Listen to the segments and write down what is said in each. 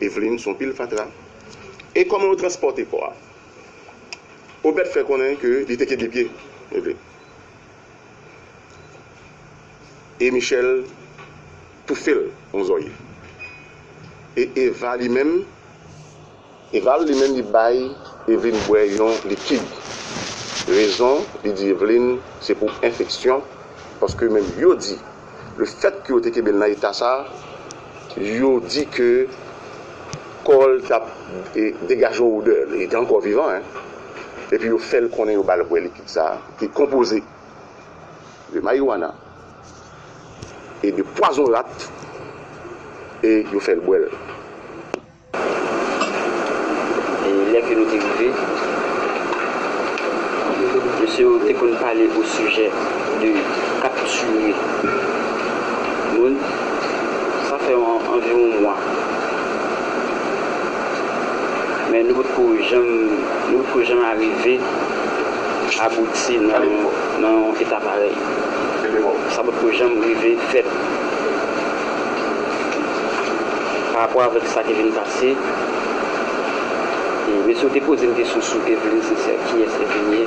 Eveline son pil fatra. E koman yo transpòte kò a? Obed fè konnen ke li te kenbe pye Eveline. E Michel toufe l on zòrye. E Eva li menm. Eval li menm li bay Evelyne bwè yon likid. Rezon li di Evelyne se pou enfeksyon paske menm yo di le fèt ke yo te kenbe l nan eta sa yo di ke kò l t ap degaje yon odè, li te ankò vivan hein, epi yo fè l konnen yo ba l bwè likid sa ki konpoze de marijuana e de pwazon rat e yo fè l bwè l. E lè ke nou te rive, mesye yo te konn pale osijè de kaptire moun. Sa fè anviwon mwa. Men nou potko janm, nou potko janm arive abouti nan yon eta parèy. Sa potko janm rive fèt. Parapò avèk sa ki vin pase, mesye yo te poze m kesyon sou Evelyne Sincère, kiyès Evelyne ye?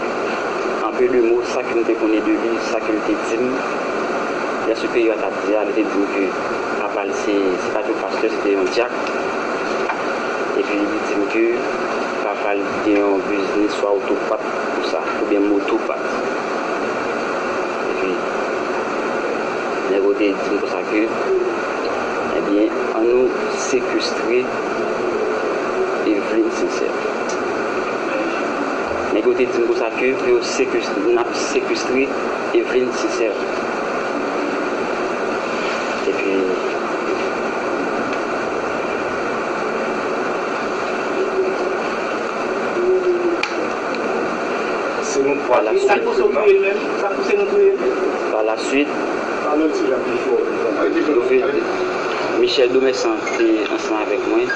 An peu de mots, sa ke m te konnen de li, sa ke l te di m, lè siperyè a t ap di a, li te di m ke papa l se, se pa t yon pastè, se te yon dyak. Epi li di m ke papa l gen yon biznis swa oto pat konsa, oubyen moto pat. Epi. Nèg yo te di m konsa ke, Ebyen, an nou sekestre Evelyne Sincère. Nèg yo te di m konsa ke pou yo sekestre, n ap sekestre Evelyne Sincère. Epi, Palaswit, Michel Domessan te ansanm avèk mwen.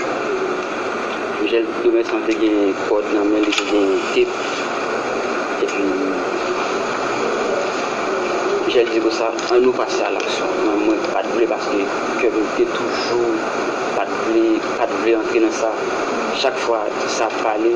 Michel Domessan te gen kòd nan men li, te gen tep. Epi, Michel di konsa, an nou pase a laksyon. Men mwen pa t vle paske kè m te toujou pa t vle antre nan sa. Chak fwa sa ap pale.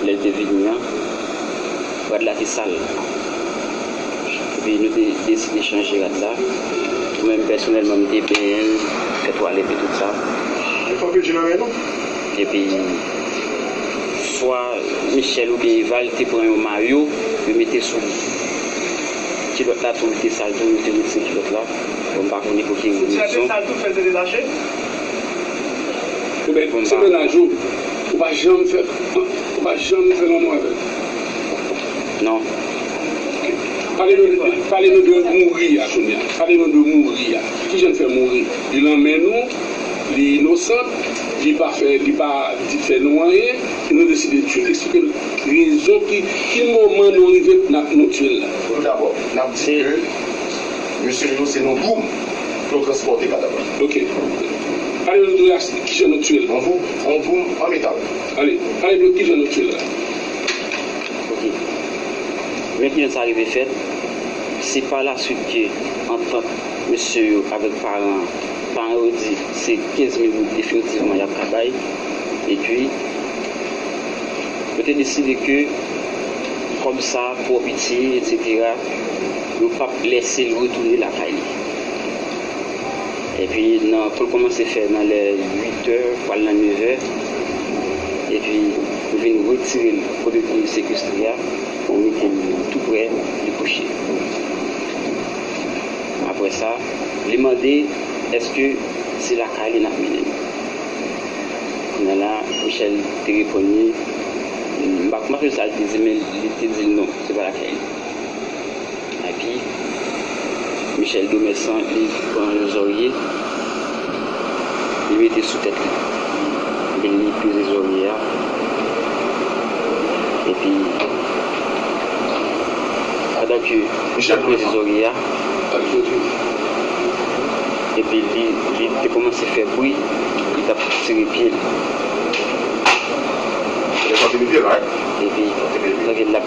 Lè l te vini an, rad la te sal. Epi nou te deside chanje rad la. Mwen menm pèsonèlman m te benyen l, fè twalèt e tout sa. Epi swa Michèl oubyen Eva l te pran yon mayo yo mete sou li. Kilòt la tou li te sal tou, nou te retire kilòt la. Bon m pa konnen pou ki rezon. Mwen te sal tou fè l te detache. Mwen te sal tou fè l te detache. Ou pa janm fè ou pa janm fè lanmou avèl non ok pale nou de pale nou de mouri a kounya pale nou de mouri a kijann fè mouri li lan men nou li inosant li pa fè li pa di fè nou anyen e nou deside tiyel eksplike nou rezon ki ki moman nou rive nap nou tiyel la. Tout dabò nap di ke mesye yo se nan doum yo transpòte kadav la. Ok pale nou de kijan nou tiyel. Yon poum an metal. Ale ale dlo kijan nou tchwel la. Ok men kijan sa rive fèt se pa la swit ke antant mesye yo avèk paran an paran yo di se 15 mil goud definitivman yap ka bay epi yo te deside ke kòb sa twò piti etc yo pap lèsel retounen lakay li. Epi nan pou l kòmanse fè nan lè 8 tè pou al nan 9 è, epi yo vin retire l kote te sekestre a pou mete l tou prè li kouche. Aprè sa, li mande èske se lakay li n ap mennen m. Kounya la, Michèl te reponn li, m pa m pa sonje sa l te di men li te di l non, se pa lakay li. Epi Michel Domesson li pran yon zòrye li mete sou tèt li. Epi li peze zòrye a. Epi pandan ke lap peze zòrye a. Epi li te kòmanse fè bwi li tap tire pye li. Epi pandan ke lap.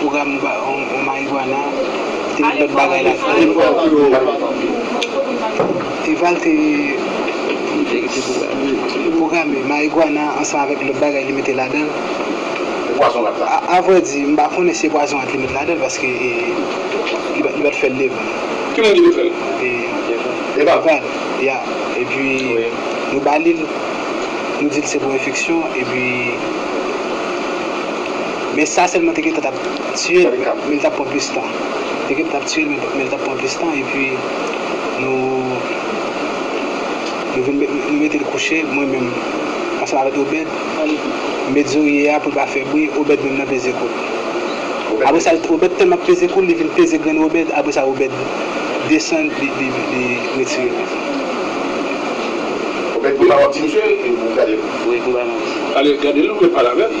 Pwogram ou marijuana e lòt bagay la fè yo. Eval te pwograme marijuana ansanm avèk lòt bagay li mete ladan l. A vrè di, m pa konnen si se pwazon rat li met ladan l paske li pa t fè l devan m. Ki moun ki te fè l? Eval. Eval, ya. Epi nou ba li l, nou di l se pou enfeksyon epi. Men sa selman te gentan tap tiyel men li tap pran plis tan. Te gentan tap tiyel men li tap pran plis tan epi nou nou vin met nou metel kouche mwen menm ansanm avèk Obed met zorye a poul pa fè bri Obed menm nan peze koul. Apresa Obed tèlman ap peze koul li vin peze grenn Obed apresa Obed desann li li li retire men. Obed konba wap di misye e ou gadel. Wi konba map di. Ale gadel ou met pale avèl.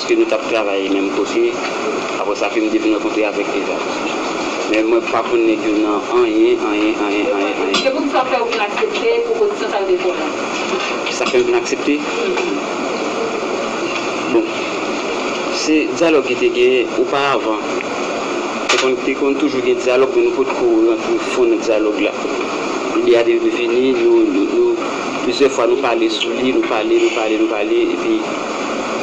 Paske nou tap travay menm kote aprè sa fim devin rankontre avèk Eva men mwen pa konn nèg yo nan anyen anyen anyen anyen anyen. Se poukisa fè ou vin aksepte pwopozisyon sa yo te fè a? Kisa fèm vin aksepte? Bon se dyalòg ki te genyen oparavan te konn toujou gen dyalòg men nou potko rantre fon nan dyalòg la lide a te vini nou plizyè fwa nou pale sou li nou pale nou pale nou pale epi